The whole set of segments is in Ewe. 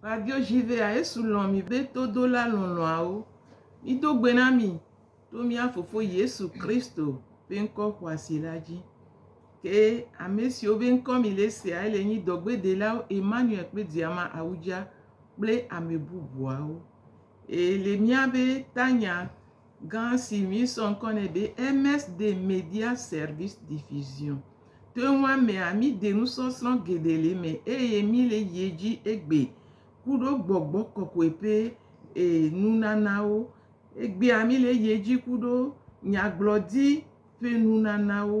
Fabio Gilvea, Yesu lɔ̃ mì be todola lɔlɔ̃awo. Mído gbe na mi to mía Fofo Yesu Kristo ƒe ŋkɔ xɔasi la dzi. Ke ame siwo be ŋkɔ mi le sea, ele nyi dɔgbedelawo Emmanuel kple Diama Awudja kple ame bubuawo. Ele mía be tanya Gã si míesɔ ŋkɔ nɛ be MS de Media Service Diffusion. To enua mea, míde nusɔsrɔ̃ geɖe le eme eye míle yi edzi egbe ku ɖo gbɔgbɔ kɔkɔe ƒe e nunanawo. Egbea míle yi edzi ku ɖo nyagblɔɖi ƒe nunanawo.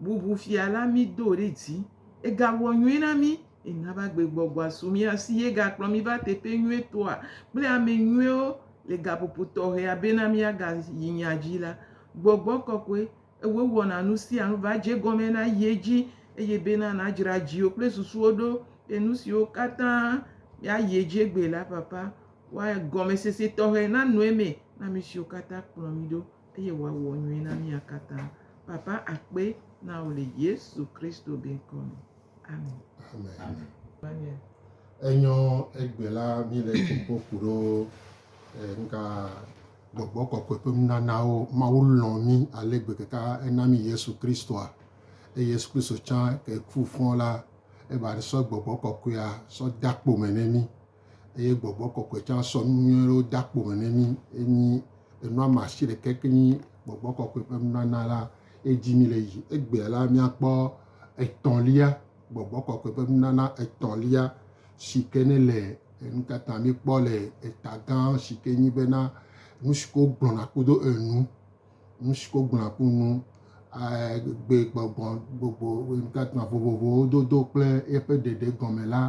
Bubu fia la mi do ɖe dzi. Ega wɔ nyuie na mi. Ena va gbe gbɔgbɔa su mia si ye ga kplɔ mi va teƒe nyuie tɔa kple ame nyuiewo le gaƒoƒo tɔxɛa be na mia ga yi nya dzi la. Gbɔgbɔ kɔkɔe ewe wɔna nu sia nu va dze gɔme na ye dzi eye be na na dzra dziwo kple susuwo ɖo be nu siwo katã mia yi edzi egbe la papa wa gɔme sese tɔxɛ na nɔe me na mi siwo katã kplɔ mi ɖo. Eye wòawɔ nyui na mía katã. Papa akpe na wò le Yesu Kristo be ŋkɔ me. Amen. Amen. Amen. Enyɔ egbe la mi le kpɔkpɔ ku ɖo nka gbɔgbɔ kɔkɔe ƒe nunanawo Mawu lɔ mi ale gbe keka ena mi Yesu Kristoa eye Yesu Kristo tsã ke ku fɔ la eba sɔ gbɔgbɔ kɔkɔea sɔ da kpo me ne mi eye gbɔgbɔ kɔkɔe tsã sɔ nu nyui aɖewo de akpo me ne mí. Enyi enua me asi ɖeka ke nyi gbɔgbɔ kɔkɔe ƒe nunana la. Edi mí le yi egbea la, míakpɔ etɔ̃lia, gbɔgbɔ kɔkɔe ƒe nunana etɔ̃lia si ke ne le enu ka ta míkpɔ le eta gã si ke nyi bena, Nu siwo wogblɔna kudo enu. nusi wogblɔa ku nu, gbegbɔgblɔ vovovowo dodo kple eƒe ɖeɖe gɔme la,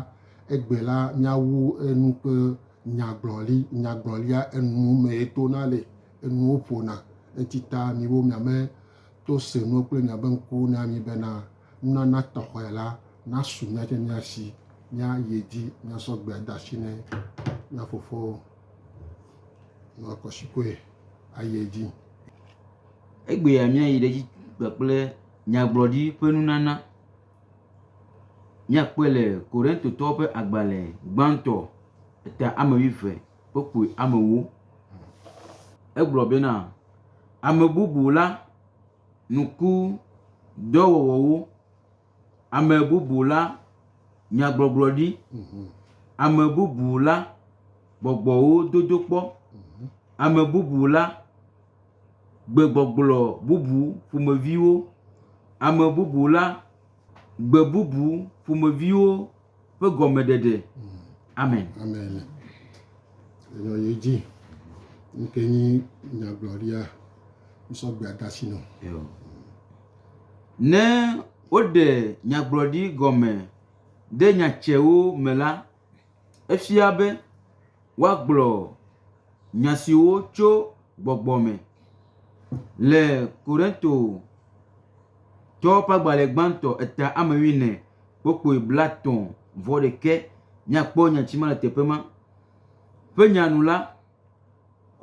egbe la míawu enu ƒe nyagblɔli, nyagblɔlia enu mee tona le, enuwo ƒona. Eti ta miwo miame to se nuwo kple miabe ŋku na mi bena nunana tɔxɛ la nasu miatsɛ mia si, míayi edzi míasɔ gbe de asi na mía fofowo. nɔ kɔshikoe ayi edzi. Egbea míayi ɖe edzi kpakple nyagblɔɖi ƒe nunana. Míakpɔe le Korintotɔwo ƒe agbalẽ gbãtɔ eta ame wuieve kpukpui ame ewo. Egblɔ bena, Ame bubu la nu ku dɔwɔwɔwo. Ame bubu la nyagbɔgblɔ ɖi. Mhm. Ame bubu la gbɔgbɔwo dodo kpɔ. Mhm. Ame bubu la gbegbɔgblɔ bubu ƒomeviwo. Ame bubu la gbe bubu ƒomeviwo. ƒe gɔmeɖeɖe. Amen. Amen. Enɔ ye dzi. Nke nyi nyagblɔɖia nsɔgbe adasi nɔ. Ne woɖe nyagblɔɖi gɔme ɖe nyatsewo me la, efia be. woagblɔ nya siwo tso gbɔgbɔ me. Le Korintotɔwo ƒe agbalẽ gbãtɔ eta ame wuiene kpokpui blatɔ̃ vɔ ɖekɛ míakpɔ nya si me le teƒe ma. Ƒe nya nu la,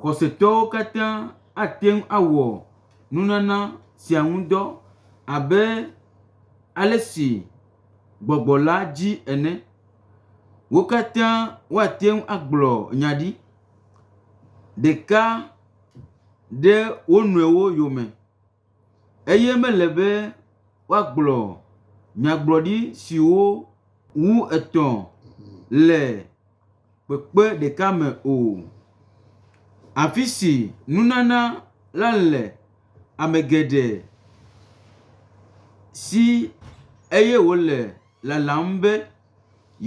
xɔsetɔwo katã ate ŋu awɔ nunana sia ŋu dɔ abe ale si gbɔgbɔ la dzi ene. Wo katã woate ŋu agblɔ nya ɖi ɖeka ɖe wo nɔewo yome eye mele be woagblɔ nyagblɔɖi siwo wu etɔ̃ le kpekpe ɖeka me o. Afi si nunana la le ame geɖe si eye wòle. lalam be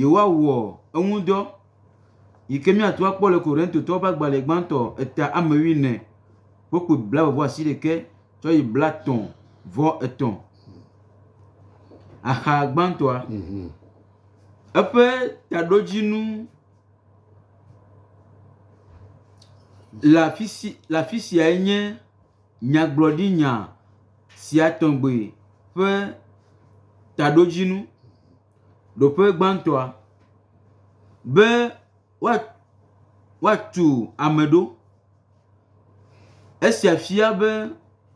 yewoawɔ eŋudɔ yi ke míato akpɔ le Korintotɔwo ƒe agbalẽ gbãtɔ eta ame wuiene ƒe ƒo blaeve vɔ asi ɖekɛ tsɔ yi blatɔ̃ vɔ etɔ̃. Axa gbãtɔa, mhm. eƒe taɖodzinu le afi siae nye. nyagblɔɖinya sia tɔgbi ƒe taɖodzinu. Ɖoƒe gbãtɔa, be woat, woatu ame ɖo. Esia fia be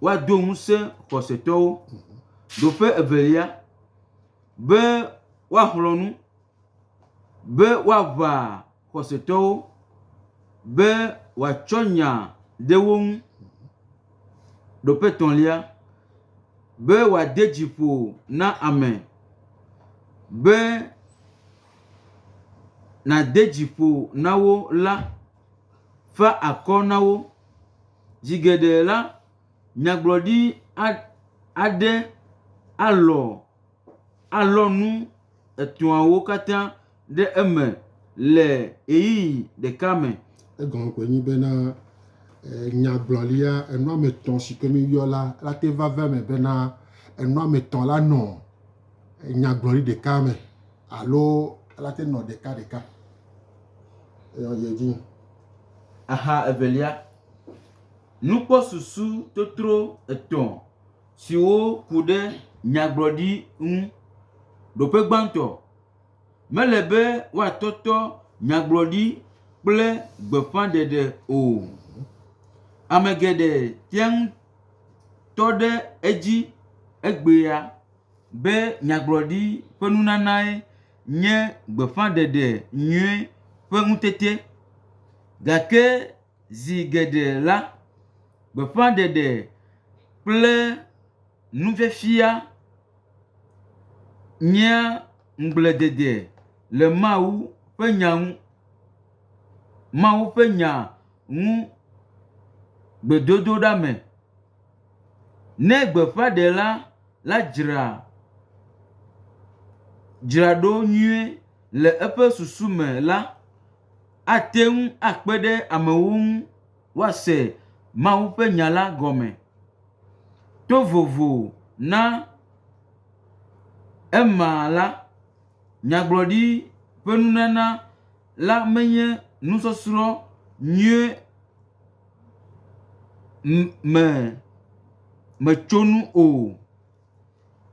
woado ŋusẽ xɔsetɔwo. Ɖoƒe evelia, be woaxlɔ̃ nu. be woaʋã xɔsetɔwo, be wòatsɔ nya ɖe wo ŋu. Ɖo ƒe etɔ̃lia, be wòade dzi ƒo na ame, be nàde dzi ƒo na wo la, fa akɔ na wo. Zi geɖe la, nyagblɔɖi aɖe alɔ̃. alɔ nu etɔ̃awo katã ɖe eme le ɣeyiɣi ɖeka me. Egɔme koe nye bena, nyagblɔɖia enu ame etɔ̃ si ke míeyɔ la, ela te va va eme bena, enu ame etɔ̃ la nɔ nyagblɔɖi ɖeka me alo ela te nɔ ɖeka ɖeka. Eyɔ yi edzi. Axa evelia, nukpɔsusu totro etɔ̃ siwo ku ɖe nyagblɔɖi ŋu. Ɖoƒe gbãtɔ, mele be woatɔtɔ nyagblɔɖi kple gbeƒãɖeɖe o. Ame geɖe tea ŋu tɔ ɖe edzi egbea be nyagblɔɖi ƒe nunanae nye gbeƒãɖeɖe nyui ƒe ŋutete gake, Zi geɖe la, gbeƒãɖeɖe kple nufiafia nyea ŋugbledede le Mawu ƒe Nya ŋu. Mawu ƒe Nya ŋu gbedodoɖa me. Ne gbeƒãɖela la dzra dzra ɖo nyuie le eƒe susu me la, ate ŋu akpe ɖe amewo ŋu woase Mawu ƒe Nya la gɔme to vovo na ema la, nyagblɔɖi ƒe nunana la menye nusɔsrɔ̃ nyui me metsonu o.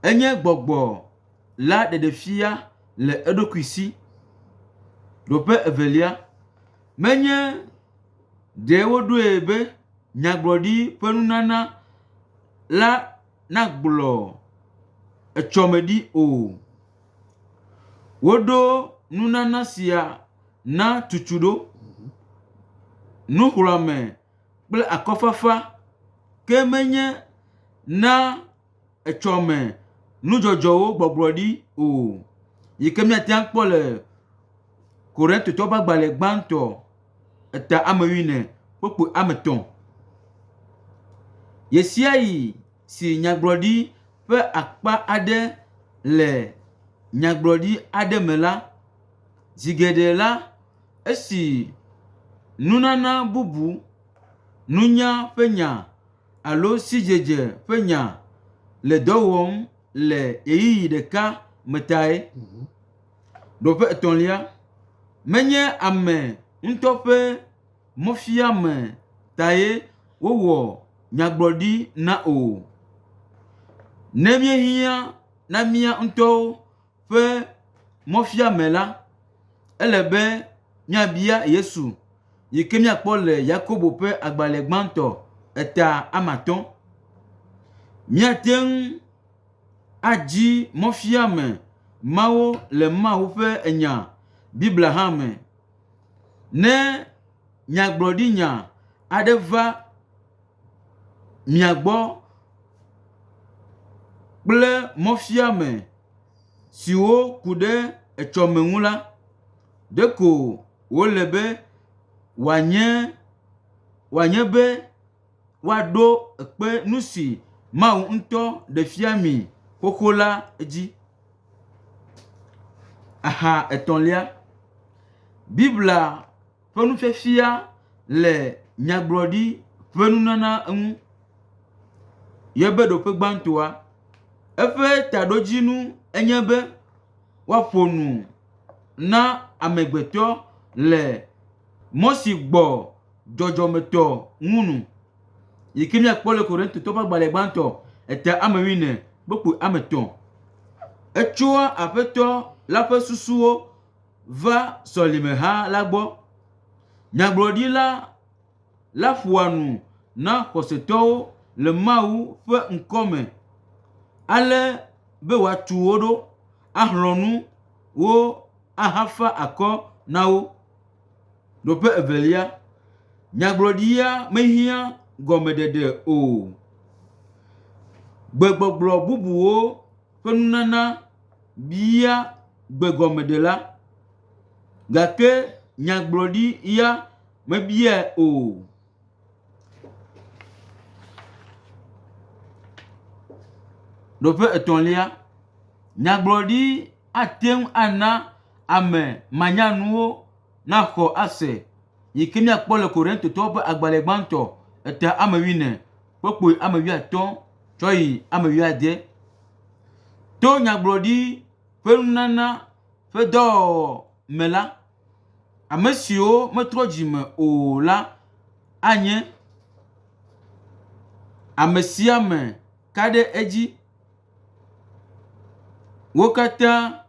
Enye gbɔgbɔ la ɖeɖefia le eɖokui si. Nɔƒe evelia, menye ɖe woɖoe be nyagblɔɖi ƒe nunana la nagblɔ etsɔmeɖi o. Woɖo nunana sia na tutuɖo, nuxlɔ̃ame. kple akɔfafa ke menye na etsɔme nudzɔdzɔwo gbɔgblɔ ɖi o, yi ke míate ŋu akpɔ le Korintotɔwo ƒe agbalẽ gbãtɔ eta ame wuiene kpukpui ame etɔ̃. Ɣe sia ɣi si nyagblɔɖi ƒe akpa aɖe le nyagblɔɖi aɖe me la, zi geɖe la, Esi nunana bubu, nunya ƒe nya alo sidzedze ƒe nya le dɔ wɔm le ɣeyiɣi ɖeka me tae. Nɔƒe etɔ̃lia, menye ame ŋutɔ ƒe mɔfiame tae wowɔ nyagblɔɖi na o. Ne míehiã na mía ŋutɔwo. ƒe mɔfiame la, ele be míabia Yesu yi ke míakpɔ le Yakobo ƒe agbalẽ gbãtɔ eta ame atɔ̃. Míate ŋu adzi mɔfiame mawo le Mawu ƒe Nya, Biblia hã me. Ne nyagblɔɖinya aɖe va, mia gbɔ kple mɔfiame siwo ku ɖe etsɔme ŋu la, ɖeko wòle be wòanye wòanye be woaɖo kpe nu si Mawu ŋutɔ ɖe fia mi xoxo la dzi. Aha etɔ̃lia, Biblia. ƒe nufiafia le nyagblɔɖi ƒe nunana ŋu. Ye be ɖoƒe gbãtɔa, eƒe taɖodzinu enye be woaƒo nu na amegbetɔ le mɔ si gbɔ dzɔdzɔmetɔ ŋu nu. Yi ke míakpɔ le Korintotɔwo ƒe agbalẽ gbãtɔ eta ame wuiene kpukpui ame etɔ̃. Etsoa Aƒetɔ la ƒe susuwo. va sɔlimeha la gbɔ. Nyagblɔɖila la ƒoa nu na xɔsetɔwo le Mawu ƒe ŋkɔ me ale be wòatu wo ɖo, axlɔ̃ nu wo ahafa akɔ na wo. Nɔƒe evelia, nyagblɔɖia mehiã gɔmeɖeɖe o. Gbegbɔgblɔ bubuwo ƒe nunana bia gbegɔmeɖela, gake nyagblɔɖi ya mebiae o. Nɔƒe etɔ̃lia, nyagblɔɖi ate ŋu ana ame manyanuwo naxɔ ase yi ke míakpɔ le Korintotɔwo ƒe agbalẽ gbãtɔ eta ame wuiene ƒe kpui ame wuiatɔ̃ tsɔ yi ame wuiade. To nyagblɔɖi. ƒe nunana ƒe dɔwɔwɔ me la, ame siwo metrɔ dzi me o la anye ame sia ame ka ɖe edzi. Wo katã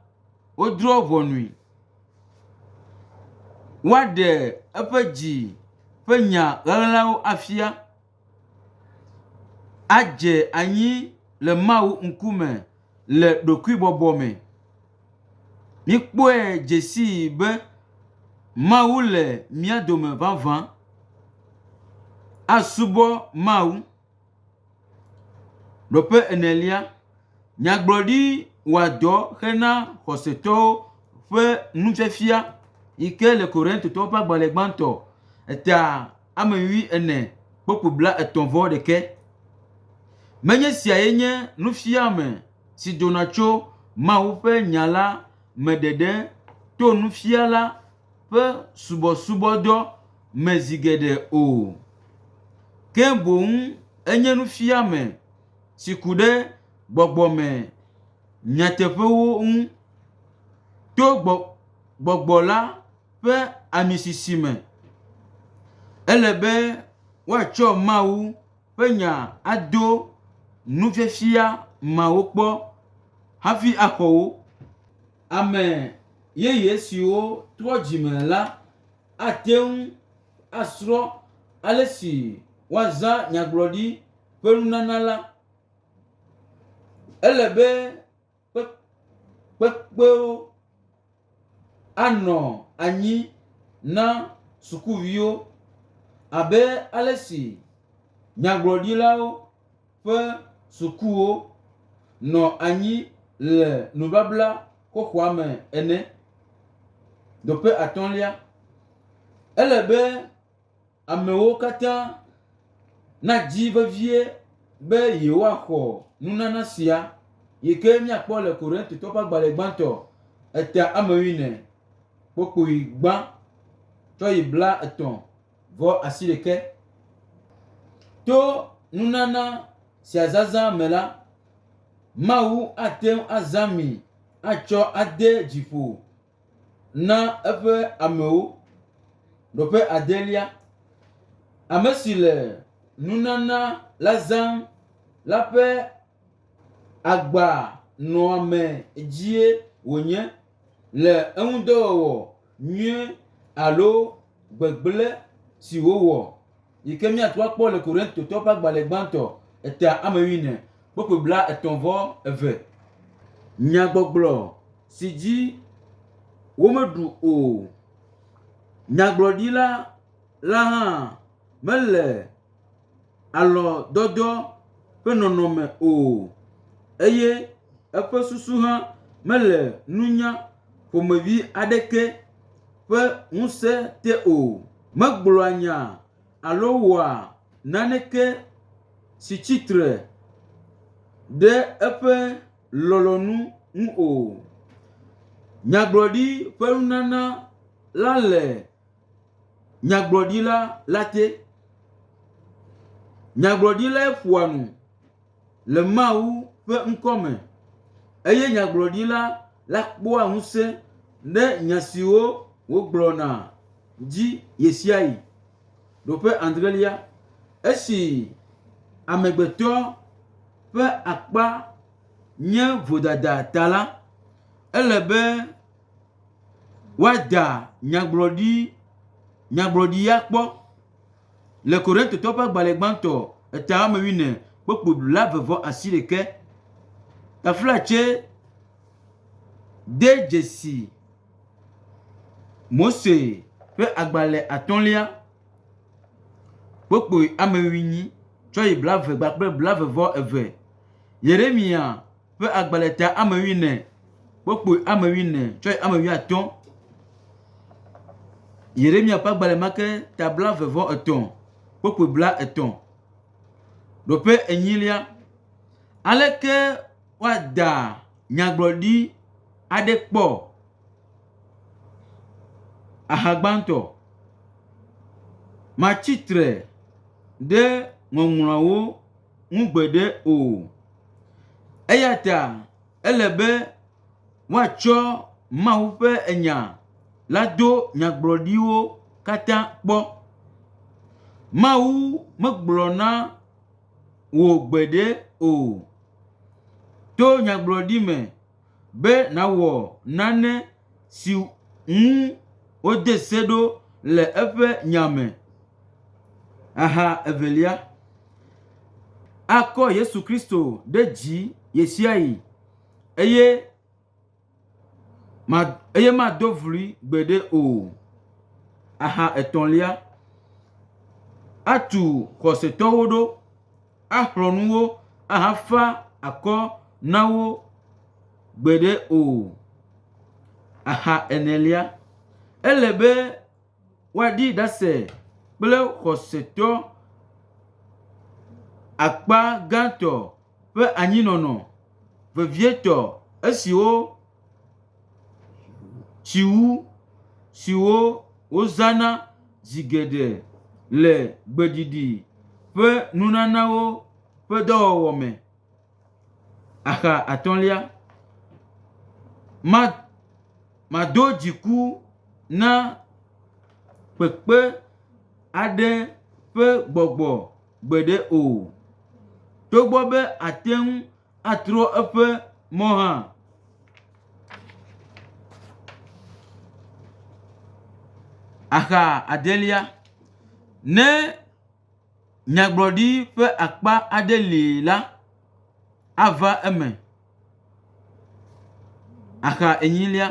wodrɔ̃ ʋɔnui. Woaɖe eƒe dzi ƒe nya ʋeʋẽlawo afia. adze anyi le Mawu ŋkume le ɖokuibɔbɔ me. Míkpɔe dze sii be Mawu le mía dome vavã. Asubɔ Mawu. Nɔƒe enelia, Nyagblɔɖi wɔa dɔ hena xɔsetɔwo ƒe nufiafia yi ke le Korintotɔwo ƒe agbalẽ gbãtɔ eta ame nyui ene kple ƒo blaetɔ̃ vɔ ɖekɛ. Menye esiae nye nufiame si dona tso Mawu ƒe Nya la me ɖeɖe to nufiala ƒe subɔsubɔdɔ me zi geɖe o, ke boŋ enye nufiame, si ku ɖe gbɔgbɔ me nyateƒewo ŋu to gbɔ, gbɔgbɔ la ƒe amisisi me. Ele be woatsɔ Mawu ƒe nya ado nufiafia mawo kpɔ hafi axɔ wo. Ame yeye siwo trɔ dzime la ate ŋu. asrɔ̃ ale si woazã nyagblɔɖi ƒe nunana la, ele be kpekpewo anɔ anyi na sukuviwo abe ale si nyagblɔɖilawo. ƒe sukuwo nɔ anyi le nubabla xoxoa me ene. Doƒe atɔ̃lia, ele be amewo katã nadzi vevie be yewoaxɔ nunana sia yi ke míakpɔ le Korintotɔ ƒe agbalẽ gbãtɔ eta ame wuiene, kpokpui gbã tsɔ yi bla etɔ̃. Vɔ asi ɖeke. To nunana sia zazã me la, Mawu ate ŋu azã mi atsɔ ade dzi ƒo na eƒe amewo. Nɔƒe adelia, ame si le nunana la zãm la ƒe agbanɔamee dzie wònye. le eŋudɔwɔwɔ nyui alo gbegblẽ si wòwɔ, yi ke míate ŋu akpɔ le Korintotɔwo ƒe agbalẽ gbãtɔ eta ame wuiene kple ƒo blaetɔ̃ vɔ eve. Nyagbɔgblɔ si dzi womeɖu o. Nyagblɔɖila la hã mele. alɔ̃dɔdɔ ƒe nɔnɔme o eye eƒe susu hã mele nunya ƒomevi aɖeke ƒe ŋusẽ te o. Megblɔa nya alo wɔa naneke si tsi tre ɖe eƒe lɔlɔ̃nu ŋu o. Nyagblɔɖi ƒe nunana la le… Nyagblɔɖila la te. Nyagblɔɖilae ƒoa nu le Mawu ƒe ŋkɔ me eye nyagblɔɖila la kpɔa ŋusẽ ɖe nya siwo wògblɔna dzi ɣesiaɣi. Ɖoƒe adrelia, esi amegbetɔ ƒe akpa nye vodada ta la, ele be, Woada nyagblɔɖi, nyagblɔɖi ya kpɔ le Korintotɔwo ƒe agbalẽ gbãtɔ eta woame wuiene kpokpo blaeve-vɔ asiɖeke. Taflatse de dzesi Mose ƒe agbalẽ atɔ̃lia kpokpo ame enyi tsɔ yi blaeve kple blaeve-vɔ-eve. Yeremiya. ƒe agba le ta ame wuiene, wokpoe ame wuiene, tsɔe ame wuiatɔ̃. Yeremia ƒe agba le ma ke ta bla eve vɔ etɔ̃, wokpoe bla etɔ̃. Ɖo ƒe enyilia, aleke woada nyagblɔɖi aɖe kpɔ? Aha gbãtɔ, matsi tre ɖe Ŋɔŋlɔawo. ŋu gbeɖe o. Eya ta ele be woatsɔ Mawu ƒe nya la do nyagblɔɖiwo katã kpɔ. Mawu megblɔ na wò gbeɖe o. To nyagblɔɖi me be nàwɔ nane si ŋu wode se ɖo le eƒe nya me. Aha evelia, akɔ Yesu Kristo ɖe dzi ɣesiaɣi eye ma eye mado vloe gbeɖe o. Aha etɔ̃lia, atu xɔsetɔwo ɖo. axlɔ̃ nu wo ahafa akɔ na wo gbeɖe o. Axa enelia, ele be woaɖi ɖase kple xɔsetɔ akpa gãtɔ ƒe anyinɔnɔ vevietɔ esiwo, Tsiŋu siwo wozãna zi geɖe le gbeɖiɖi ƒe nunanawo ƒe dɔwɔwɔ me. Axa atɔ̃lia, ma, mado dziku na kpekpe aɖe ƒe gbɔgbɔ gbeɖe o. Togbɔ be àte ŋu. atrɔ eƒe mɔ hã. Axa adelia, ne nyagblɔɖi ƒe akpa aɖe li la, ava eme. Axa enyilia,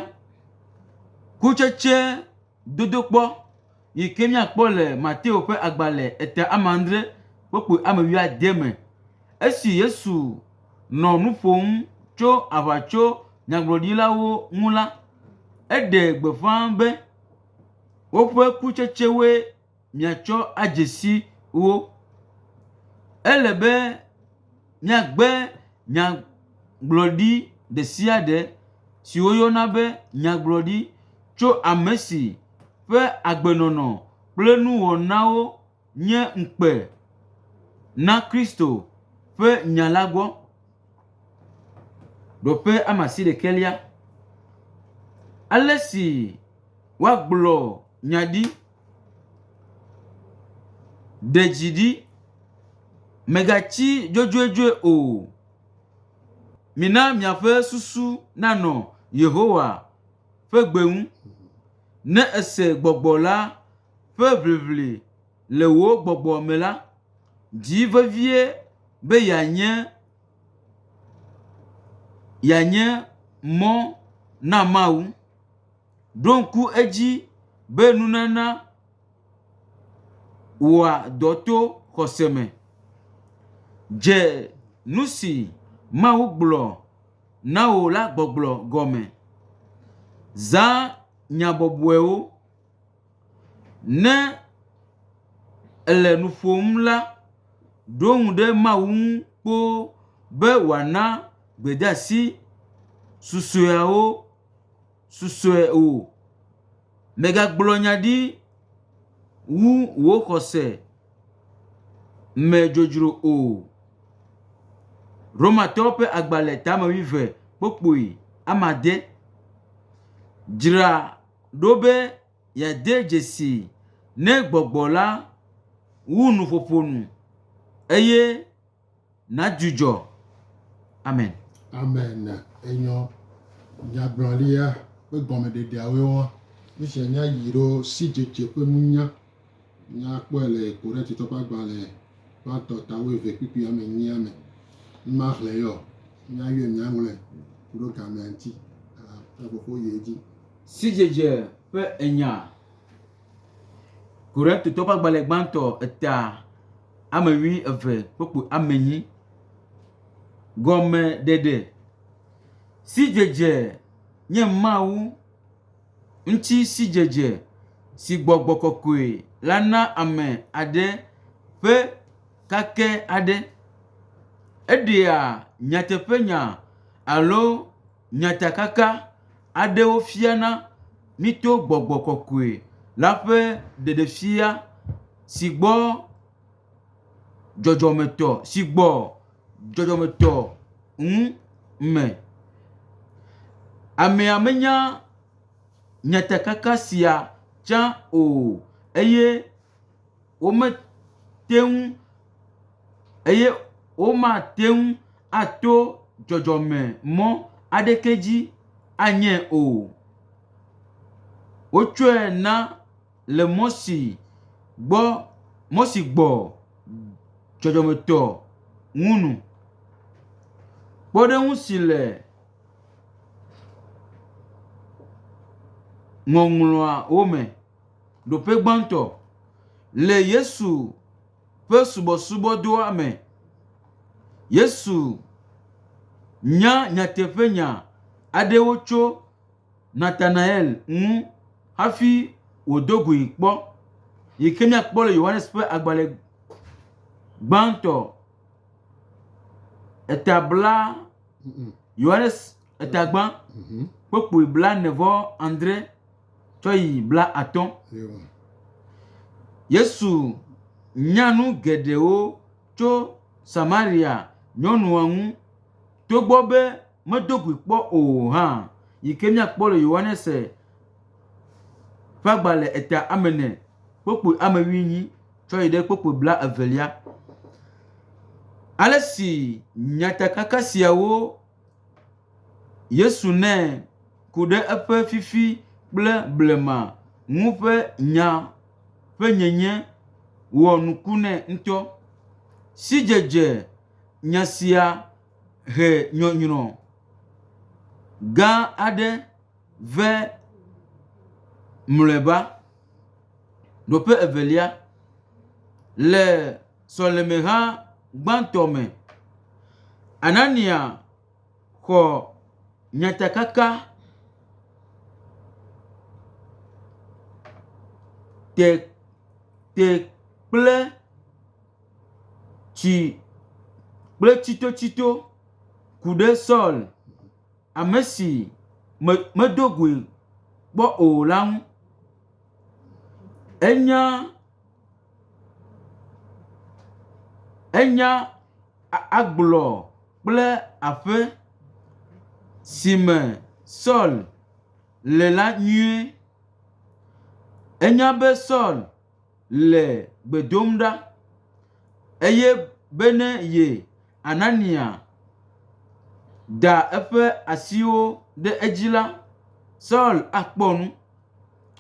kutsetse dodokpɔ. yi ke míakpɔ le Mateo ƒe agbalẽ ete ame adre kpokpui ame wuiade me. Esi Yesu nɔ nu ƒom tso aʋatsonyagblɔɖilawo ŋu la, eɖe gbeƒã be, Woƒe kutsetsewoe miatsɔ adze si wo. Míagbe nyagblɔɖi ɖe sia ɖe si woyɔna be nyagblɔɖi tso ame si ƒe agbenɔnɔ kple nuwɔnawo nye ŋukpe na Kristo ƒe nya la gbɔ. Ɖoƒe ama si ɖekɛlia. Ale si woagblɔ nya ɖi. Ɖe dzi ɖi, mègatsi dzodzodzoe o. Mina miaƒe susu nanɔ Yehowa ƒe gbe ŋu. Ne èse gbɔgbɔ la ƒe ʋiʋli le wò gbɔgbɔ me la, di vevie be yeanye yeanye mɔ na Mawu. Ɖo ŋku edzi be nunana wɔa dɔ to xɔse me. Dze nu si Mawu gblɔ na wò la gbɔgblɔ gɔme. Zã nya bɔbɔewo. Ne èle nu ƒom la, ɖo ŋu ɖe Mawu ŋu kpoo be wòana gbedeasi susɔeawo. susɔe o. Mègagblɔ nya ɖi wu wò xɔse me dzodzro o. Romatɔwo ƒe agbalẽ tame wuieve kpo kpoe ame ade. Dzra ɖo be yeade dzesii ne gbɔgbɔ la wu nuƒoƒo nu eye. nadzudzɔ. Amen. Amen. Enyɔ nyagblɔɖia ƒe gɔmeɖeɖeawoe wɔa. Nu sia nye ayi ɖo sidzedze ƒe nunya. Míakpɔe le Korintatɔ ƒe agbalẽ gbãtɔ ta wuieve kpukpui ame enyia me. Ne maxlẽ ye o, míayɔe míaŋlɔe ku ɖe gamea ŋuti. Ƒe fofo yi edzi. Sidzedze ƒe enya. Korintatɔ ƒe agbalẽ gbãtɔ eta. ame wui eve kpokpo ame nyi. Gɔme ɖeɖe, sidzedze nye Mawu ŋuti sidzedze si gbɔgbɔ kɔkɔe la na ame aɖe ƒe kake aɖe. Eɖea nyateƒenya alo. Nyatakaka aɖewo fiana mí to gbɔgbɔ kɔkɔe la ƒe ɖeɖefia si gbɔ dzɔdzɔmetɔ si gbɔ dzɔdzɔmetɔ ŋu me. Amea menya nyatakaka sia tsã o eye. womete ŋu eye womate ŋu ato dzɔdzɔme mɔ aɖeke dzi anyee o. Wotsɔe na le mɔ si gbɔ mɔ si gbɔ dzɔdzɔmetɔ ŋu nu. Kpɔɖeŋu si le ŋɔŋlɔawo me. Ɖoƒe gbãtɔ, le Yesu ƒe subɔsubɔdɔa me, Yesu nya nyateƒenya aɖewo tso Natanael ŋu hafi wòdo gui kpɔ, yi ke míakpɔ le Yohanes ƒe agbalẽ gbãtɔ, eta bla, Yohanes etagbã, kpukpui blaene-vɔ-adre. tsɔ yi blaatɔ̃. Yesu nya nu geɖewo tso Samaria nyɔnua ŋu togbɔ be medo gui kpɔ o hã, yi ke míakpɔ le Yohanes ƒe agbalẽ eta ame ene, kpokpui ame wuienyi tsɔ yi ɖe kpokpui blaevelia. Ale si nyatakaka siawo. Yesu nɛ ku ɖe eƒe fifi kple blema ŋu ƒe nya ƒe nyenye wɔ nuku nɛ ŋutɔ. Sidzedze nya sia he nyɔnyrɔ gã aɖe vɛ mlɔeba. Nɔƒe evelia le. sɔlemeha gbãtɔ me. Anania xɔ nyatakaka te, te kple tsi kple tsitotsito ku ɖe Saul, ame si me, medo goe kpɔ o la ŋu. Enya Enya agblɔ kple aƒe si me Saul le la nyuie. Enya be Saul le gbe dom ɖa eye be ne ye Anania da eƒe asiwo ɖe edzi la, Saul akpɔ nu.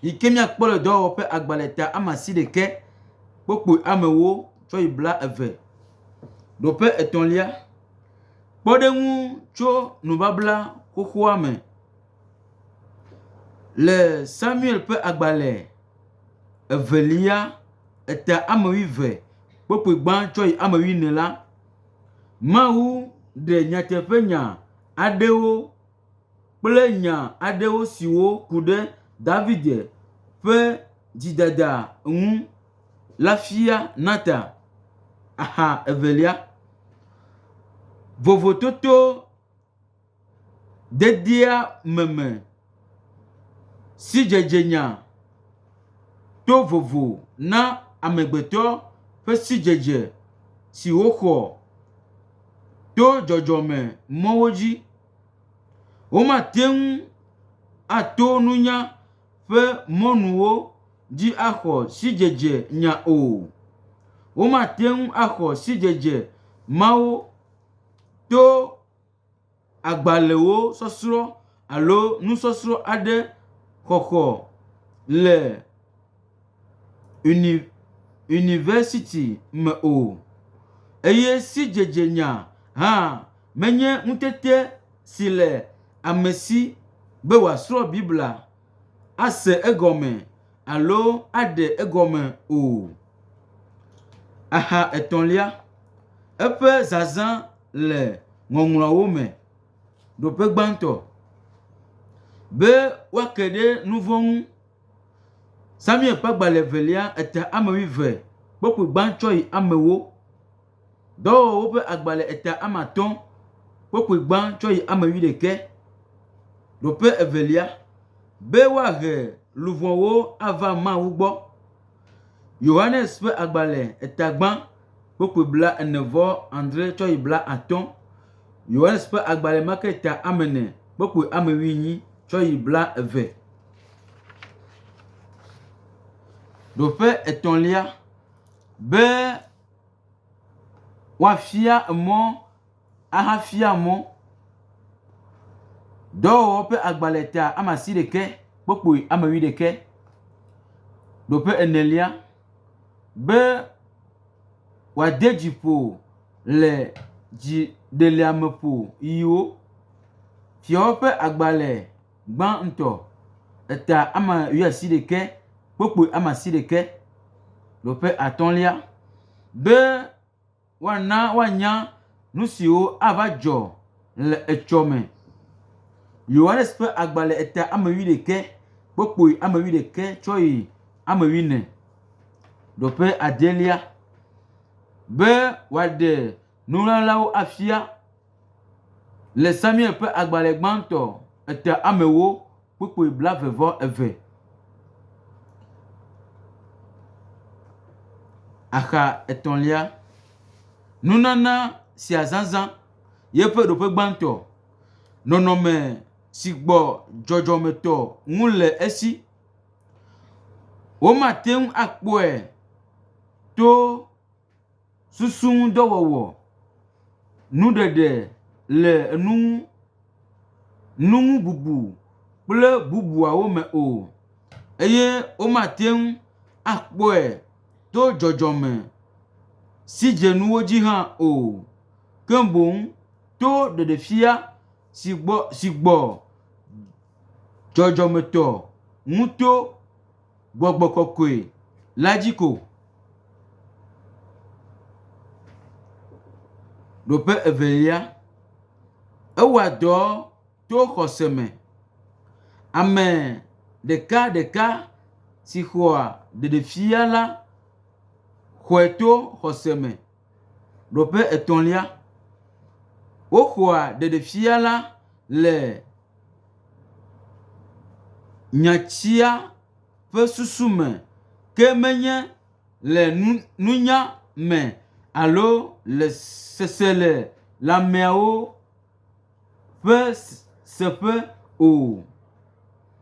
yi ke míakpɔ le dɔwɔƒe agbalẽ ta ama si ɖekɛ kpokpui ame ewo tsɔ yi bla eve. Nɔƒe etɔ̃lia, kpɔɖeŋu tso nubabla xoxoa me le Samuel ƒe agbalẽ evelia eta ame wuieve kpokpui gbã tsɔ yi ame wuiene la, Mawu ɖe nyateƒenya aɖewo. kple nya aɖewo siwo ku ɖe David ƒe dzidada ŋu la fia Natan. Axa evelia, vovototo dedie me me, sidzedzenya to vovo na amegbetɔ ƒe sidzedze si woxɔ to dzɔdzɔme mɔwo dzi. Womate ŋu ato nunya ƒe mɔnuwo dzi axɔ sidzedze nya o. Womate ŋu axɔ sidzedze mawo to agbalẽwo sɔsrɔ̃ alo nusɔsrɔ̃ aɖe xɔxɔ le. uni university me o eye sidzedzenya hã menye ŋutete si le ame si be wòasrɔ̃ Biblia, ase egɔme alo aɖe egɔme o. Axa etɔ̃lia, eƒe zazã le Ŋɔŋlɔawo me. Nɔƒe gbãtɔ be woake ɖe nu vɔ̃ ŋu. Samuel ƒe agbalẽ evelia eta ame wuieve kpe ku gbãtɔe amewo. Dɔwɔwɔwo ƒe agbalẽ eta ame atɔ̃ kpe ku gbãtɔe ame wuiɖekɛ. Nɔƒe evelia, be woahe luʋɔwo ava Mawu gbɔ. Yohanes ƒe agbalẽ tagbã kpokpui blaene-vɔ-adre tsɔ yi blaatɔ̃, Yohanes ƒe agbalẽ Marketa amene kpokpui amewuienyi tsɔ yi blaeve. Ɖoƒe etɔ̃lia be woafia emɔ. ahafia mɔ dɔwɔwɔ ƒe agbalẽ ta ama si ɖekɛ kpokpui ama wui ɖekɛ ɖo ƒe enelia be wòade dzi ƒo le dzi ɖeliame ƒo ʋiwo. Fiawo ƒe agbalẽ gbã ŋutɔ eta ama wui asi ɖekɛ kpokpui ama si ɖekɛ ɖo ƒe atɔ̃lia be. Woana woanya nu siwo ava dzɔ le etsɔme. Yohanes ƒe agbalẽ eta ame wuiɖekɛ, kpokpoe ame wuiɖekɛ tsɔ yi ame wuine. Nɔƒe adelia be wòaɖe nuŋaŋawo afia. Le Samuel ƒe agbalẽ gbãtɔ etea amewo kpukpui blaeve vɔ eve. Axa etɔ̃lia, nunana sia zazã ye ƒe ɖoƒe gbãtɔ, nɔnɔme si gbɔ dzɔdzɔmetɔ ŋu le esi. Womate ŋu akpɔe to. Susu ŋu dɔ wɔwɔ. Nuɖeɖe le enu ŋu. Nuŋububu kple bubuawo me o eye womate ŋu akpɔe to dzɔdzɔme sigyenuwo dzi hã o. Ke boŋ to ɖeɖefia si gbɔ si gbɔ dzɔdzɔmetɔ ŋuto. Gbɔgbɔ kɔkɔe la dzi ko. Ɖoƒe evelia, ewɔa dɔ to xɔse me. Ame ɖeka ɖeka si xɔa ɖeɖefia la xɔe to xɔse me. Nɔƒe etɔ̃lia, woxɔa ɖeɖefia la le nyatsia ƒe susu me ke menye le nunya me alo le seselelãmeawo o. ƒe seƒe o.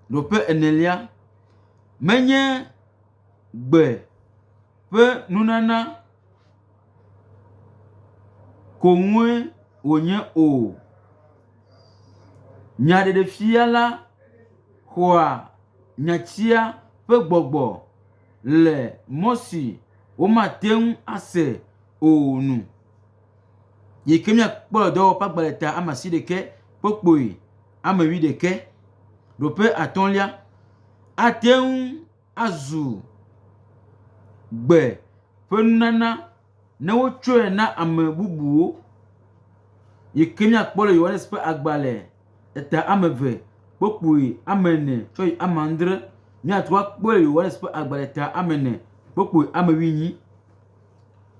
Nɔƒe enelia menye gbe ƒe nunana ko ŋue wònye o. Nyaɖeɖefia la xɔa nyatsia ƒe gbɔgbɔ le mɔ si womate ŋu ase o nu. Yike miakpɔ le dɔwɔƒe agbalẽ ta ama si ɖekɛ kpokpoe ame wi ɖekɛ. Ɖoƒe atɔ̃lia ate ŋu azu gbe ƒe nunana ne wotsɔe na ame bubuwo. Yike miakpɔ le Yohanes ƒe agbalẽ eta ame eve kpokpoe ame ene tsɔ yi ame adre. Miate ŋu akpɔe le Yohanes ƒe agbalẽ eta ame ene kpokpoe ame wi nyi.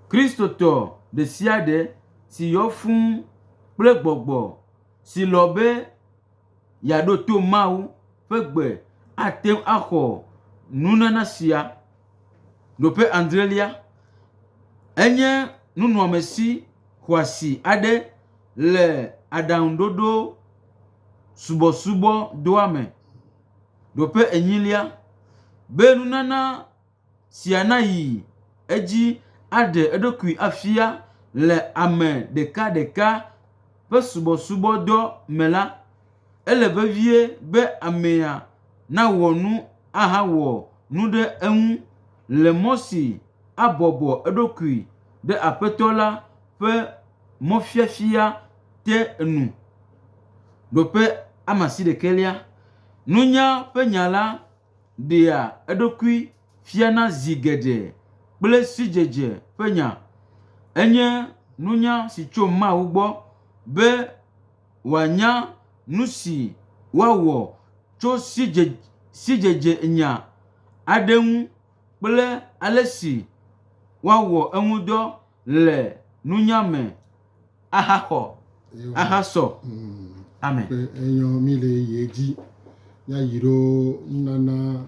Kristotɔ ɖesiaɖe si yɔ fũ kple gbɔgbɔ si lɔ̃ be yeaɖo to Mawu ƒe gbe ate ŋu axɔ nunana sia. Nɔƒe adrelia, enye nunɔamesi xɔasi aɖe le Aɖaŋuɖoɖo Subɔsubɔdɔa me. Nɔƒe enyilia, be nunana sia nayi edzi aɖe eɖokui afia le ame ɖekaɖeka ƒe subɔsubɔdɔ me la, ele vevie be amea nawɔ nu ahawɔ nu ɖe eŋu le mɔ si abɔbɔ eɖokui ɖe Aƒetɔ la ƒe mɔfiafia te nu. ɖea eɖokui fiana zi geɖe kple sidzedze ƒe nya. Enye nunya si tso Mawu gbɔ be wòanya nu si woawɔ tso sidze sidzedzenya aɖe ŋu kple ale si woawɔ eŋudɔ le nunya me. ahaxɔ ahasɔ. Amen. Ƒe enyɔ mi le ye dzi ya yi ɖo nunana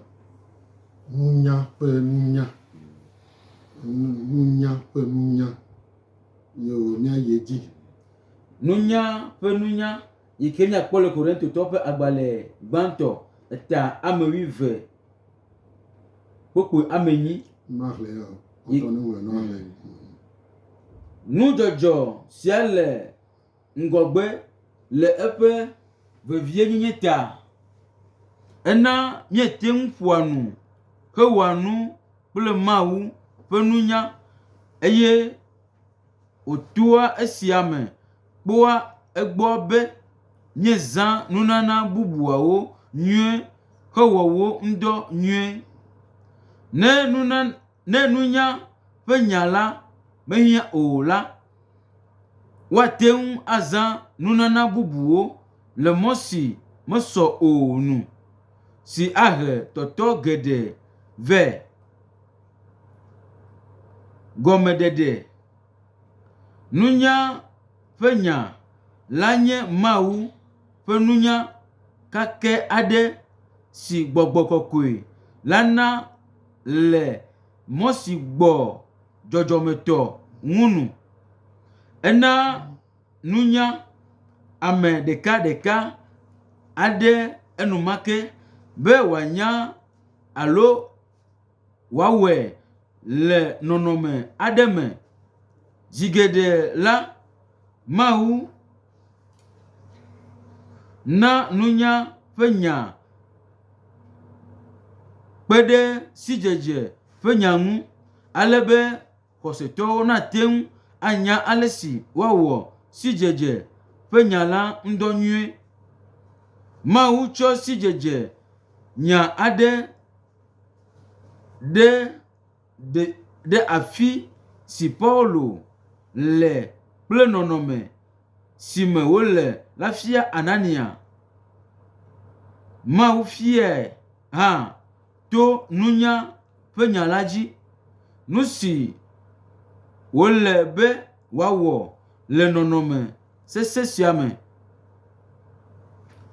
nunya ƒe nunya nunya ƒe nunya yo mia ye dzi. Nunya ƒe nunya yi ke miakpɔ le Korintotɔ ƒe agbalẽ gbãtɔ eta amewuive kpokpui ame enyi. Nudzɔdzɔ sia le ŋgɔgbe le eƒe vevienyenye ta. Ena míete ŋu ƒoa nu hewɔa nu kple Mawu ƒe nunya eye wòtoa esia me. kpɔa egbɔ be míezã nunana bubuawo nyuie hewɔ wo ŋudɔ nyuie. Ne nuna, ne nunya ƒe nya la mehiã o la, woate ŋu azã nunana bubuwo le mɔ si mesɔ o nu, si ahe tɔtɔ geɖe vɛ. Gɔmeɖeɖe. Nunya ƒe nya la nye Mawu ƒe nunya kakɛ aɖe si gbɔgbɔ kɔkɔe la na le mɔ si gbɔ dzɔdzɔmetɔ ŋu nu. Ena nunya ame ɖekaɖeka aɖe enumake be wòanya alo. wòawɔe le nɔnɔme aɖe me. Zi geɖe la, Mawu na nunya ƒe nya kpe ɖe sidzedze ƒe nya ŋu ale be xɔsetɔwo nate ŋu anya ale si woawɔ sidzedze ƒe nya la ŋudɔ nyuie. Mawu tsɔ sidzedze nya aɖe. ɖe de ɖe afi si Paulo le kple nɔnɔme si me wòle la fia Anania. Mawu fiae hã to nunya ƒe nya la dzi. Nu si wòle be wòawɔ le nɔnɔme sesẽ sia me.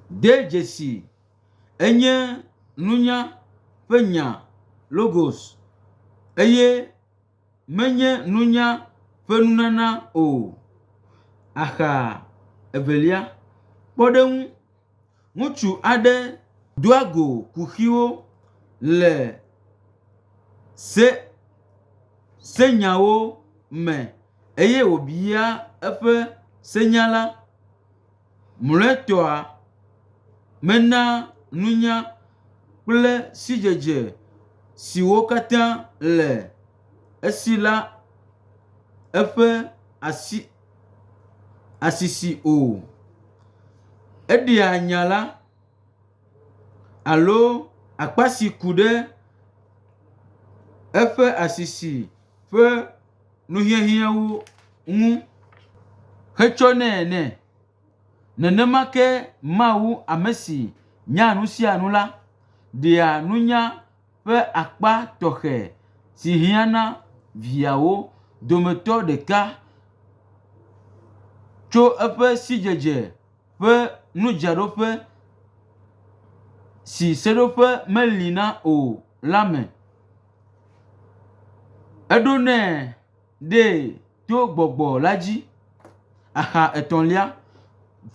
De dzesi. Enye nunya ƒe nya, Logos, eye menye nunya ƒe nunana o. Axa evelia, kpɔɖeŋu, Ŋutsu aɖe doa go kuxiwo le se, senyawo me eye wòbia eƒe senyala. Mlɔetɔa, mena nunya kple sidzedze siwo katã le esi la eƒe asi asisi o. Eɖea nya la alo akpa si ku ɖe eƒe asisi ƒe. nuhiahiãwo ŋu hetsɔnɛ nɛ. Nenema ke Mawu ame si nyaa nu sia nu la ɖea nunya ƒe akpa tɔxɛ si hiã na viawo dometɔ ɖeka tso eƒe sidzedze ƒe nudzraɖoƒe si seɖoƒe meli na o la me. Eɖo nɛ ɖɛ to gbɔgbɔ la dzi. Aha etɔ̃lia,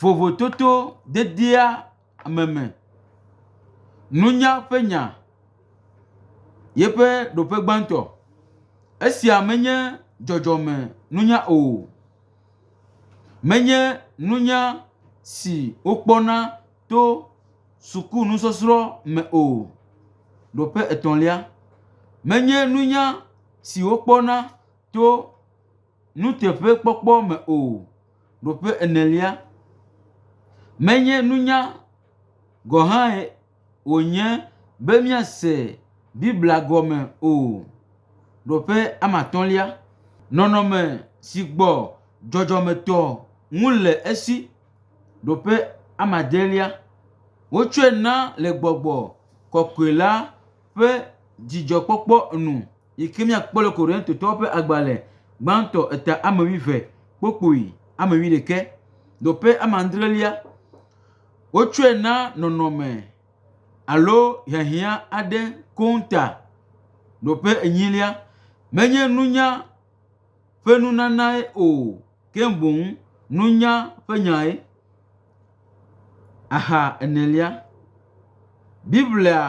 vovototo dedie ame me. Nunya ƒe nya yeƒe ɖoƒe gbãtɔ. Esia menye dzɔdzɔme nunya o. Menye nunya si wokpɔna. to suku nusɔsrɔ̃ me o. Nɔƒe etɔ̃lia, menye nunya si wokpɔna to nuteƒekpɔkpɔ me o. Nɔƒe enelia, menye nunya gɔ̃ hãe wònye be míase Biblia gɔme o. Nɔƒe amatɔ̃lia, nɔnɔme si gbɔ dzɔdzɔmetɔ ŋu le esi. Ɖoƒe amadielia, wotsɔe na le gbɔgbɔ kɔkɔe la ƒe dzidzɔkpɔkpɔ nu yi ke míakpɔ le Korintatɔwo ƒe agbalẽ gbãtɔ eta ame wuieve kpukpui ame wuiɖekɛ. Ɖoƒe amadrelia, wotsɔe na nɔnɔme alo hiahiã aɖe koŋ ta. Ɖoƒe enyilia, menye nunya ƒe nunanae o. ke boŋ nunya ƒe nyae. Axa enelia, Biblia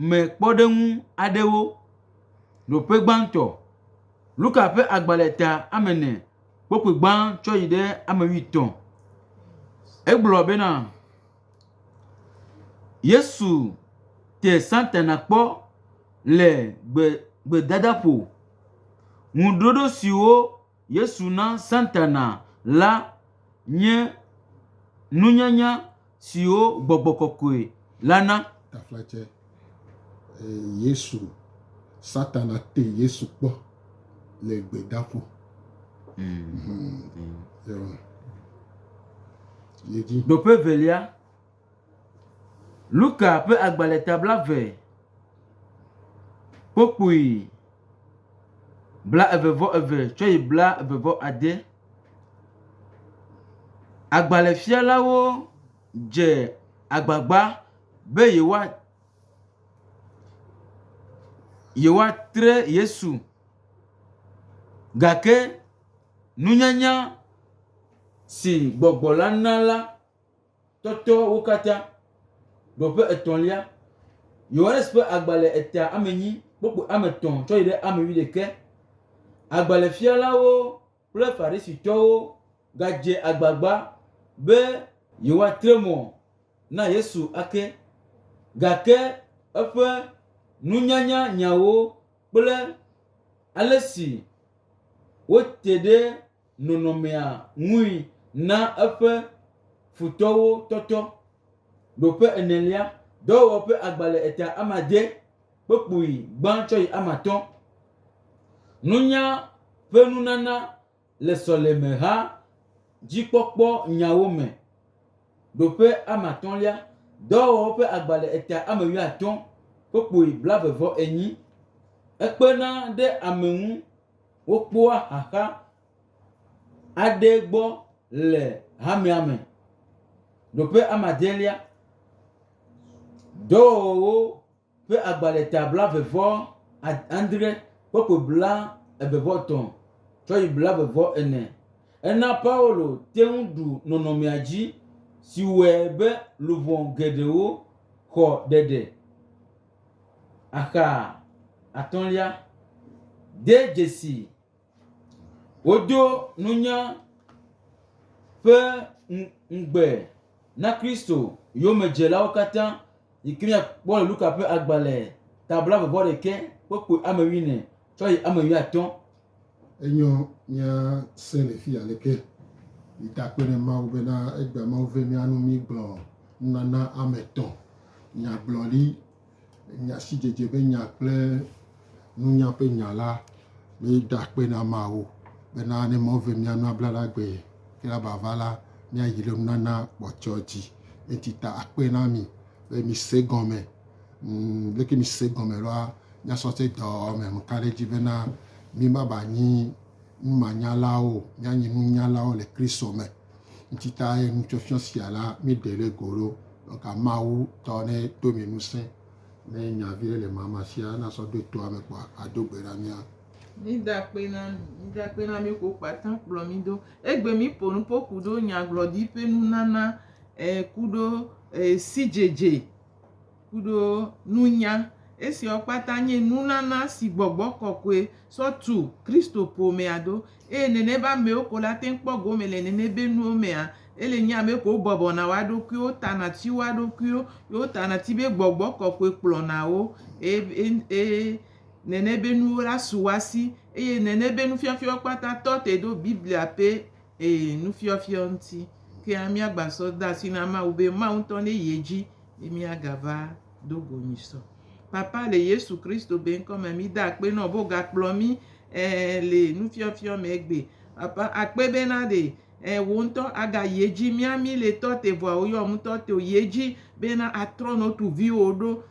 me kpɔɖeŋu aɖewo. Nɔƒe gbãtɔ, Luka ƒe agbalẽ ta ame ene kpɔ ƒe gbã tsɔ yi ɖe ame wuietɔ̃. Egblɔ bena, Yesu te Satana kpɔ le gbe gbedadaƒo. Ŋuɖoɖo siwo. Yesu na Satana la nye nunyanya siwo gbɔgbɔ kɔkɔe la na. Taflatse, Yesu, Satana te Yesu kpɔ le gbedaƒo. Ɖoƒe evelia. Luka ƒe agbalẽ ta blaeve, kpokpui blaeve-vɔ-eve tsɔ yi blaeve-vɔ-ade. Agbalẽfialawo dze agbagba be yewoa yewoatre Yesu gake nunyanya si gbɔgbɔ la na la. Tɔtɔ wo katã. Ɖɔ ƒe etɔ̃lia. Yohanes ƒe agbalẽ eta ame nyi kpokpo ame tɔ̃ tsɔ yi ɖe ame wi ɖeke. Agbalẽfialawo kple Farisitɔwo gadze agbagba be yewoatre mɔ na Yesu ake, gake eƒe nunyanya nyawo kple ale si wote ɖe nɔnɔmea ŋui na eƒe futɔwo tɔtɔ. Ɖo ƒe enelia, dɔwɔwɔ ƒe agba le eta amadé kpokpui gbã tsɔ yi amatɔ̃. Nunya ƒe nunana le sɔlemeha dzikpɔkpɔ nyawo me. Ɖo ƒe amatɔ̃lia, dɔwɔwɔ ƒe agba le eta amewuiatɔ̃ kpokpui blaeve-vɔ-enyi. Ekpena ɖe ame ŋu. Wokpɔa xaxa aɖe gbɔ le hamea me. Nɔƒe amadelia, dɔwɔwɔwo ƒe agbalẽ ta blavevɔ adre, kɔpo blavevɔ etɔ̃ tsɔ yi blavevɔ ene. Ena Paulo te ŋu ɖu nɔnɔmea dzi si wɔe be luʋɔ geɖewo xɔ ɖeɖe. Axa atɔ̃lia, de dzesi woɖo nunya ƒe ŋugbe na Kristo yomedzelawo katã yi ke míakpɔ le Luka ƒe agbalẽ tabla vɔvɔ ɖekɛ kpukpui ame wuiene. tsɔ yi eme yɔ atɔ. Enyo mía se le fi aleke yi ta kpe ne Mawu bena egbe Mawu ve mía nu mí gblɔ nunana ame tɔ, nya gblɔ li, nya si dzedze be nya kple nunya ƒe nya la mí da kpe na Mawu bena ne Mawu ve mía nu abla na gbe ke la ba va la mía yi le nunana kpɔtsɔ dzi. Enti ta akpe na mi be mi se gɔme. Ŋ, leke mìse gɔme ɖoa? Míasɔse dɔ me nu ka ɖe edzi bena mímava nyi numanyalawo o, míanyi nunyalawo le Kristo me. Ŋutitae nufiɔfiɔ sia la, míeɖe ɖe go ɖo. Donka Mawu tɔ ne do mì ŋusẽ ne nya viɖe le mama sia nasɔ ɖo toa me kpɔa, ado gbe ɖa mía. Mida akpe na mi. Mida akpe na mi ko kpata kplɔ mi do. Egbe mi po nupo kuɖo nyagblɔɖi ƒe nunana eh, kuɖo eh, sidzedze. kuɖo nunya. Esiawo kpata nye nunana si gbɔgbɔ kɔkɔe sɔ tu Kristo ƒomea ɖo. Eye nenema amewo ko la te ŋu kpɔ gome le nene be nuwo mea. Ele nye ame ko wobɔbɔna woa ɖokuiwo, wotana ti woa ɖokuiwo, ye wotana ti be gbɔgbɔ kɔkɔe kplɔna wo eye nene be nuwo la su woa si. Eye nene be nufiafiawo kpata tɔ te ɖo Biblia ƒe Ee, nufiɔfiɔ ŋuti. Kea míagba sɔ de asi na Mawu be Mawu ŋutɔ ne yi edzi be míagava do go nyi sɔ. Papa, le Yesu Kristo be ŋkɔ me, mí de akpe nɔ be wò ga kplɔ mí, ẽ, le nufiɔfiɔ me egbe. Papa, akpe be na ɖe, ẽ, wò ŋutɔ a ga yi edzi. Mía mí le tɔ te vɔa wò yɔ ŋutɔ te wò yi edzi be na a trɔ nɔ tu viwò ɖo.